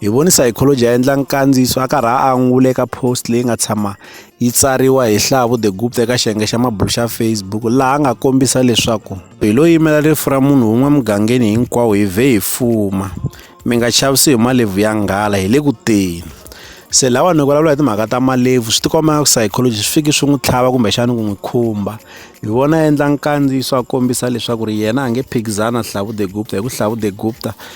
Hi voni psychology a endla nkandziyiso a karhi a angula eka post leyi nga tshama yi tsariwa hi Hlavu the Gupta eka xiyenge xa mabulo xa Facebook laha a nga kombisa leswaku belo yimela rifu ra munhu wun'we mugangeni hinkwawo hi vhe hi fuma mi nga chavisi hi malebvu ya nghala hi le ku teni se lawa ni vulavula hi timhaka ta malebvu swi tikomba ku psychology swi fiki swi n'wi tlhava kumbexana ku n'wi khumba hi vona a endla nkandziyiso a kombisa leswaku ri yena a nge phikizana hlavu the gupta hi ku hlavu the gupta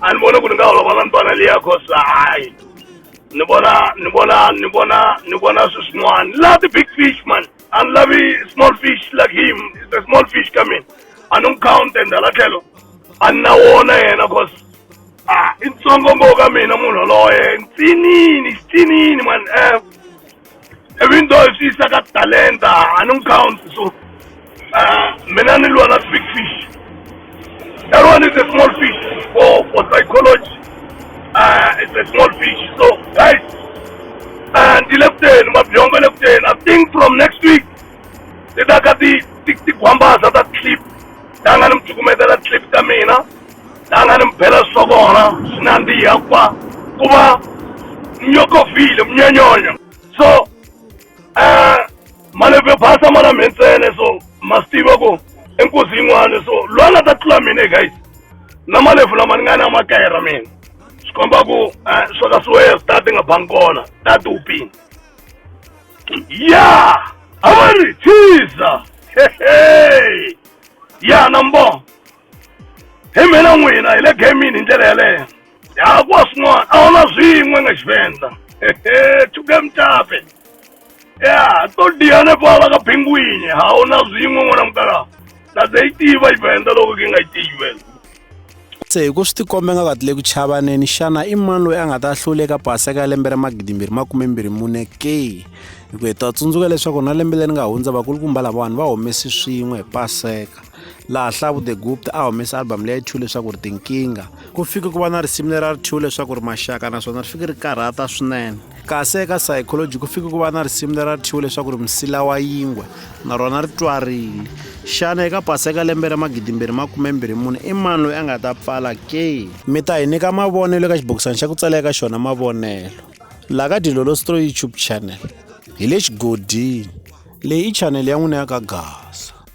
a ni voni ku ni nga holova na ntwana liya cause hayi ni vona ni vona ni vona ni vona swi swin'wana love the big fish man a ni lavi small fish like him is the small fish ka mina a ni n'wi count and hala tlhelo a ni na wona yena cause a i ntsongo ngo ka mina munhu yoloye ntsinini xitsinini man um even though if isa ka talenta a ni n'wi count so uh, mina ni lwa na big fish that one is a small fish for for psychology uh, it's a small fish so guys uh, ndi le kuteni mabyongo le kuteni i think from next week ti ta ka ti ti ti gwambaza ta clip ta nga ni mi cukumetela clip ta mina La nga ni mi bela swa kona swi nandziha ku va ku va nyokofile munyanyonya so um malembe basa ma na mhentsele so ma swi tiva ku i nkuzi yin'wana so loyi a nga ta tlula mina guys na malebvu lama ni nga na makaya ra mina swi komba ku um swa ka siweya swi ta ti nga bangi kona ta ti upini ya a va ri thiza hehe ya na mbongo hi mina n'wina hi le gamini hi ndlela yeleyo ya kuwa swin'wana a wu na swin'we nga xivendza chuke mutape ya to diyane pala ka pingwini ha wu na swin'we n'wana mukala na ze yi tiva yi venda loko ki nga yi tiyi venda se hi ku swi tikombe nga katile ku chavaneni xana i mani loyi a nga ta hlula eka paseka ya lembe ra magidimbirhi makumembirhi mune ke hi ku hi ta tsundzuka leswaku na lembe leri nga hundza vakulukumba lavawani va humesi swin'we hi paseka laha hlavu the gupta a humesa album leya two leswaku ri tinkingha ku fike ku va na risimu lera ri two leswaku ri maxaka naswona ri fike ri karhata swinene kasi eka psychology ku fike ku va na risimu lera ri two leswaku ri msila wa yingwe na rona ri twarile xana eka pasa eka lembe ra magidimbirhi makumembirhi mune i mani loyi a nga ta pfala ke mi ta hi nyika mavonelo eka xibokisana xa ku tsala eka xona mavonelo laha ka dilolo stro youtube channel hi le xigodini leyi i chanele ya n'wina ya ka gasa